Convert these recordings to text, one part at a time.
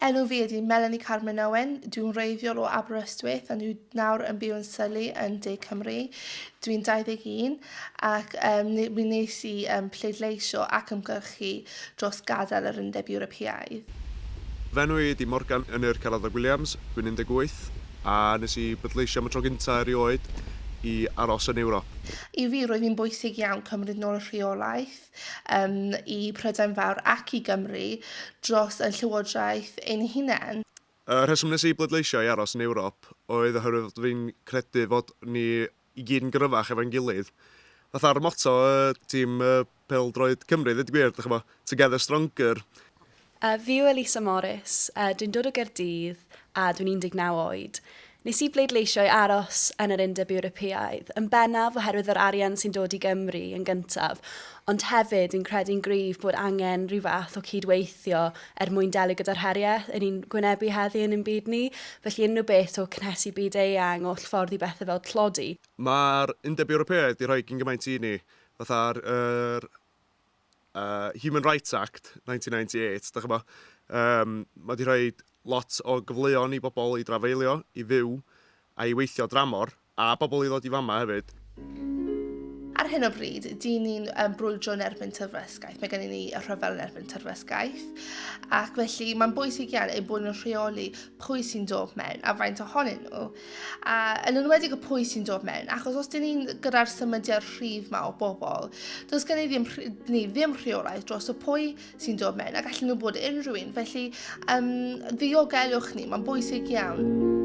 Enw fi ydi Melanie Carmen Owen, dwi'n wreiddiol o Aberystwyth ond dwi nawr yn byw yn Syllu yn De Cymru. Dwi'n 21 ac um, mi nes i um, pleidleisio ac ymgyrchu dros gadael yr Undeb Ewropeaidd. Fy enw i ydi Morgan Ynyr Caradog Williams, dwi'n 18 a nes i bleidleisio am y tro gyntaf erioed i aros yn Ewrop. I fi roedd hi'n bwysig iawn cymryd nôl y rheolaeth yym, i Prydain Fawr ac i Gymru dros ein llywodraeth ein hunain. Y rheswm nes i bleidleisio i aros yn Ewrop oedd oherwydd fod fi'n credu fod ni i gyd yn gryfach efo'n gilydd. Fatha'r motto y tîm pêl-droed Cymru, ddeud y gwir, dych ch'mo', 'Together Stronger'. A, fi yw Elisa Morris, a dwi'n dod o Gaerdydd, a dwi'n 19 oed. Nes i bleidleisio i aros yn yr Undeb Ewropeaidd, yn bennaf oherwydd yr arian sy'n dod i Gymru yn gyntaf, ond hefyd fi'n credu'n gryf bod angen rhyw fath o cyd-weithio er mwyn delio gyda'r heriau yn ni'n gwynebu heddi yn ein byd ni, felly unrhyw beth o cynhesu byd eang, oll ffordd i bethau fel tlodi. Mae'r Undeb Ewropeaidd 'di rhoi cyn gymaint i ni, fatha'r yr uh, Human Rights Act 1998, da chybod, um, mae wedi rhoi lot o gyfleon i bobl i drafeilio, i fyw a i weithio dramor, a bobl i ddod i fama hefyd. Ar hyn o bryd, dyn ni'n um, brwydro yn erbyn tyrfysgaeth. Mae gennym ni y rhyfel yn erbyn tyrfysgaeth. Ac felly mae'n bwysig iawn ein bod yn rheoli pwy sy'n dod mewn a faint ohonyn nhw. A yn enwedig y pwy sy'n dod mewn, achos os dyn ni'n gyda'r symudiad rhydd ma o bobl, does gen i ddim, ni ddim rheolaeth dros y pwy sy'n dod mewn, a gallen nhw bod unrhyw un, felly um, ddiogelwch ni, mae'n bwysig iawn.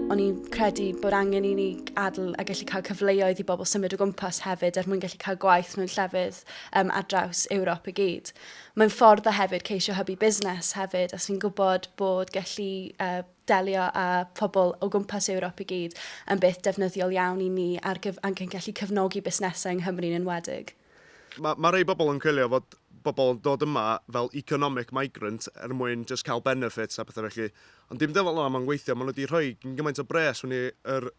O'n i'n credu bod angen i ni adl a gallu cael cyfleoedd i bobl symud o gwmpas hefyd er mwyn gallu cael gwaith mewn llefydd um, ar draws Ewrop i gyd. Mae'n ffordd o hefyd ceisio hybu busnes hefyd, a sy'n gwybod bod gallu uh, delio â phobl o gwmpas Ewrop i gyd yn beth defnyddiol iawn i ni ar gyf ac yn gallu cefnogi busnesau yng Nghymru'n enwedig. Mae ma rhai bobl yn coelio fod bobl yn dod yma fel economic migrant er mwyn jyst cael benefits a pethau felly, ond dim dyfel yna mae'n gweithio, maen nhw wedi rhoi gymaint o bres mewn i'r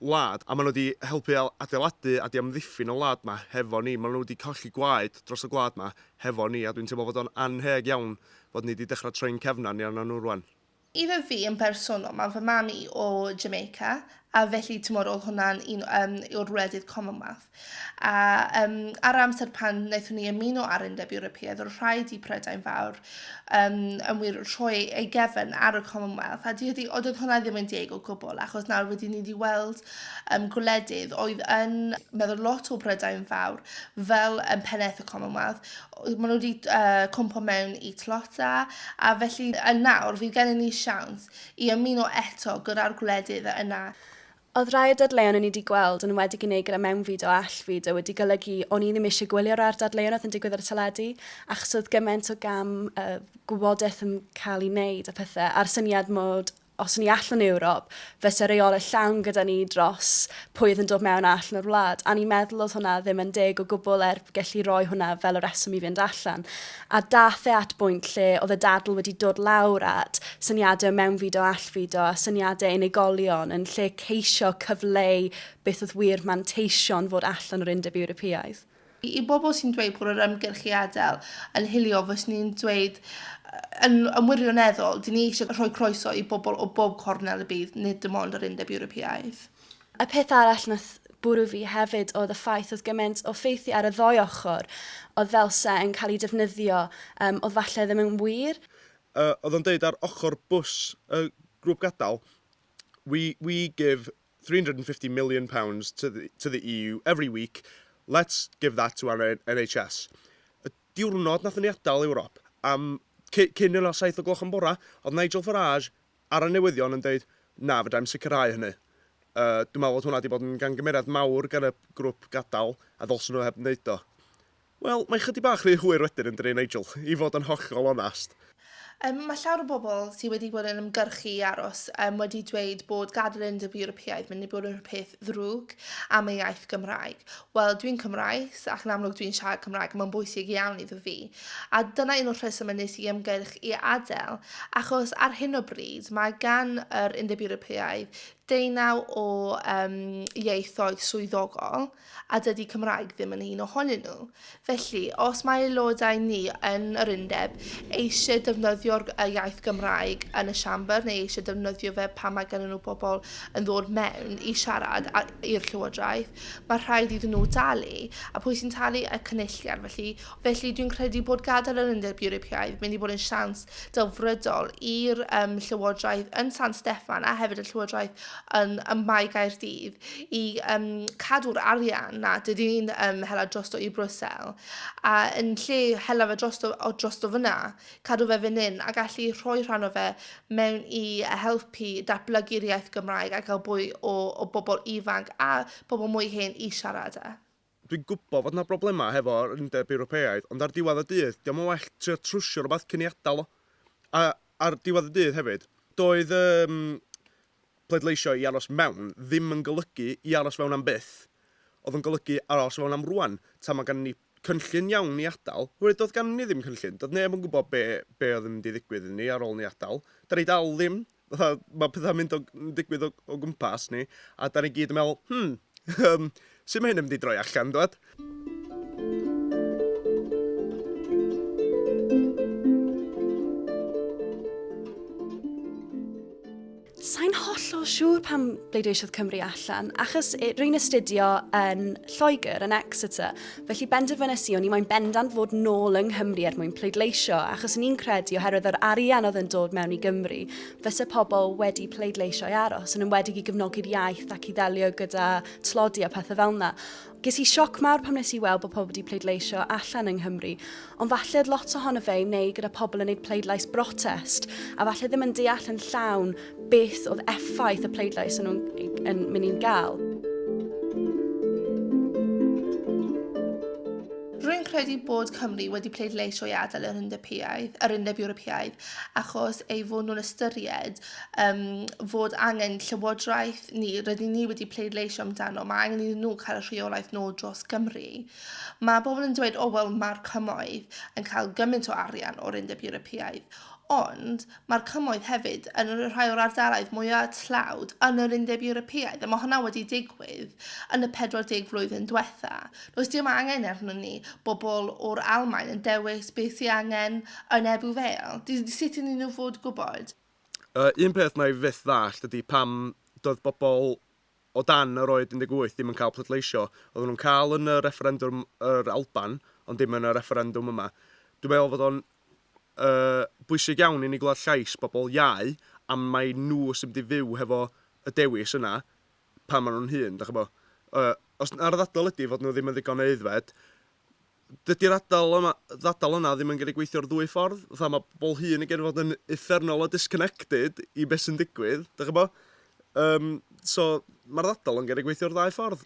wlad a maen nhw wedi helpu adeiladu a 'di amddiffyn y wlad yma hefo ni, maen nhw wedi colli gwaed dros y gwlad yma hefo ni a dwi'n teimlo fod o'n annheg iawn fod ni wedi dechrau troi'n cefn arni arnyn nhw rwan. Iddo fi yn bersonol, mae fy mam i o Jamaica, a felly timod oedd hwnna'n un um, yw'r wledydd Commonwealth. A um, ar amser pan wnaethon ni ymuno ar Undeb Ewropeaidd, oedd rhaid i Prydain Fawr um, yn wir rhoi ei gefn ar y Commonwealth, a dydy, oedd hwnna ddim yn deg o gwbl, achos nawr wedi ni wedi weld um, gwledydd oedd yn meddwl lot o Prydain Fawr fel um, pennaeth y Commonwealth, Maen nhw 'di yy cwmpo mewn i Tlota, a felly yn nawr fydd gennym ni siawns i ymuno eto gyda'r gwledydd yna. Oedd rhai o'r dadleuon o'n i 'di gweld yn enwedig yn ei gyda mewnfyd o allfyd wedi golygu o'n i ddim eisiau gwylio'r art dadleuon oedd yn digwydd ar y teledu achos oedd gymaint o gam yy gwybodaeth yn cael ei wneud a pethau a'r syniad mod Os ni allan Ewrop, fyse reolau llawn gyda ni dros pwy oedd yn dod mewn a allan o'r wlad. A ni'n meddwl oedd hwnna ddim yn deg o gwbl er gelli roi hwnna fel y rheswm i fynd allan. A daeth e at bwynt lle oedd y dadl wedi dod lawr at syniadau o mewnfudo a allfudo a syniadau unigolion yn lle ceisio cyfleu beth oedd wir manteision fod allan o'r Undeb Ewropeaidd. I bobl sy'n dweud bod yr ymgyrch i adael yn hiliol, fyswn i'n dweud yn, yn wirioneddol, dyn ni eisiau rhoi croeso i bobl o bob cornel y byd, nid dim ond yr Undeb Ewropeaidd. Y peth arall nath bwrw fi hefyd oedd y ffaith oedd gymaint o ffeithie ar y ddou ochr oedd fel se yn cael eu defnyddio um, oedd falle ddim yn wir. Uh, oedd o'n deud ar ochr bws y grŵp gadael, we, we give £350 million to the, to the EU every week, let's give that to our NHS. Y diwrnod nath ni adael Ewrop, am cyn yna 7 o gloch yn bora, oedd Nigel Farage ar y newyddion yn dweud, na, fydda i'n sicrhau hynny. Uh, dwi'n meddwl bod hwnna wedi bod yn gangymeriad mawr gan y grwp gadael a ddylsyn nhw heb wneud o. Wel, mae chydig bach rhy hwyr wedyn yn dry Nigel, i fod yn hollol onast. Yym, mae llawer o bobl sy wedi bod yn ymgyrchu i aros yym wedi dweud bod gadael yr Undeb Ewropeaidd mynd i bod yn rhywbeth ddrwg am y iaith Gymraeg. Wel, dwi'n Cymraes ac yn amlwg dwi'n siarad Cymraeg a mae'n bwysig iawn iddo fi. A dyna un o'r rhesymau nes i ymgyrch i adael, achos ar hyn o bryd mae gan yr Undeb Ewropeaidd deunaw o yym ieithoedd swyddogol, a dydy Cymraeg ddim yn un ohonyn nhw. Felly, os mae aelodau ni yn yr undeb eisiau defnyddio'r iaith Gymraeg yn y Siambr neu eisiau defnyddio fe pan mae gennyn nhw bobl yn ddod mewn i siarad i'r Llywodraeth, mae rhaid iddyn nhw dalu. A pwy sy'n talu? Y Cynulliad. Felly, felly dwi'n credu bod gadael yr Undeb Ewropeaidd mynd i bod yn siawns delfrydol i'r um, Llywodraeth yn San Steffan a hefyd y Llywodraeth yn, ym Mae Gaerdydd i yym cadw'r arian 'na, dydy hi'm yn hela drosto i Brussels, a yn lle hela fe drosto o drosto fan'na, cadw fe fan hyn a gallu rhoi rhan o fe mewn i helpu datblygu'r iaith Gymraeg a gael mwy o o bobl ifanc a pobl mwy hen i siarad e. Dwi'n gwybod fod 'na broblemau hefo'r Undeb Ewropeaidd, ond ar diwedd y dydd, 'di o'm yn well trio trwsio rhywbeth cyn ei adael o. A ar diwedd y dydd hefyd, doedd yym pleidleisio i aros mewn ddim yn golygu i aros fewn am byth, oedd yn golygu aros fewn am rŵan, tan mae ganddo ni cynllun iawn i adael, oherwydd doedd ganddo ni ddim cynllun, doedd neb yn gwybod be be oedd yn mynd i ddigwydd iddo ni ar ôl ni adael. 'Da ni dal ddim. fatha, mae pethau'n mynd o, yn digwydd o, o gwmpas ni, a da ni gyd yn meddwl, hmm, um, sut mae hyn yn mynd i droi allan, dwed? Sa'n hollol siŵr pam bleidleisiodd Cymru allan, achos rwy'n astudio yn Lloegr, yn Exeter, Felly benderfynes i o'n i moyn bendant fod nôl yng Nghymru er mwyn pleidleisio, achos o'n i'n credu oherwydd yr arian oedd yn dod mewn i Gymru, fyse pobl wedi pleidleisio i aros, yn enwedig i gefnogi'r iaith ac i ddelio gyda tlodi a phethau fel yna. Ges i sioc mawr pam nes i weld bod pobl wedi pleidleisio allan yng Nghymru, Ond falle oedd lot ohono fe i wneud gyda pobl yn neud pleidlais brotest, a falle ddim yn deall yn llawn beth oedd effaith y pleidlais yn nhw'n yn mynd i'n gael. Rwy'n credu bod Cymru wedi pleidleisio i adael yr Undeb Piaidd, yr Undeb Ewropeaidd, achos ei fod nhw'n ystyried um, fod angen llywodraeth ni, rydyn ni wedi pleidleisio amdano, mae angen iddyn nhw cael y rheolaeth nôl dros Gymru. Mae pobl yn dweud, 'O, wel, mae'r Cymoedd yn cael gymaint o arian o'r Undeb Ewropeaidd. Ond mae'r Cymoedd hefyd yn rhai o'r ardaloedd mwya' tlawd yn yr Undeb Ewropeaidd, a mae hwnna wedi digwydd yn y 40 flwyddyn diwetha'. Does dim angen arnon ni bobl o'r Almaen yn dewis beth sy angen yn Ebbw Vale. D- sut ydyn nhw'n fod gwybod? Y un peth wna i fyth ddallt ydy pam doedd bobl o dan yr oed 18 ddim yn cael pleidleisio. Oedden nhw'n cael yn y refferendwm yr Alban, ond dim yn y refferendwm yma. Dwi'n meddwl fod o'n uh, bwysig iawn i ni glywed llais bobl iau am mai nhw sy'n mynd i fyw hefo y dewis yna pan maen nhw'n hun, da chi bo. Uh, os ar ddadl ydy fod nhw ddim yn ddigon aeddfed, dydy'r adal yma, ddadl yna ddim yn gallu gweithio'r ddwy ffordd. Fatha mae pobl hŷn yn gallu fod yn uffernol o disconnected i beth sy'n digwydd, dych chi'n gwybod? Um, so, mae'r ddadl yn gallu gweithio'r ddau ffordd.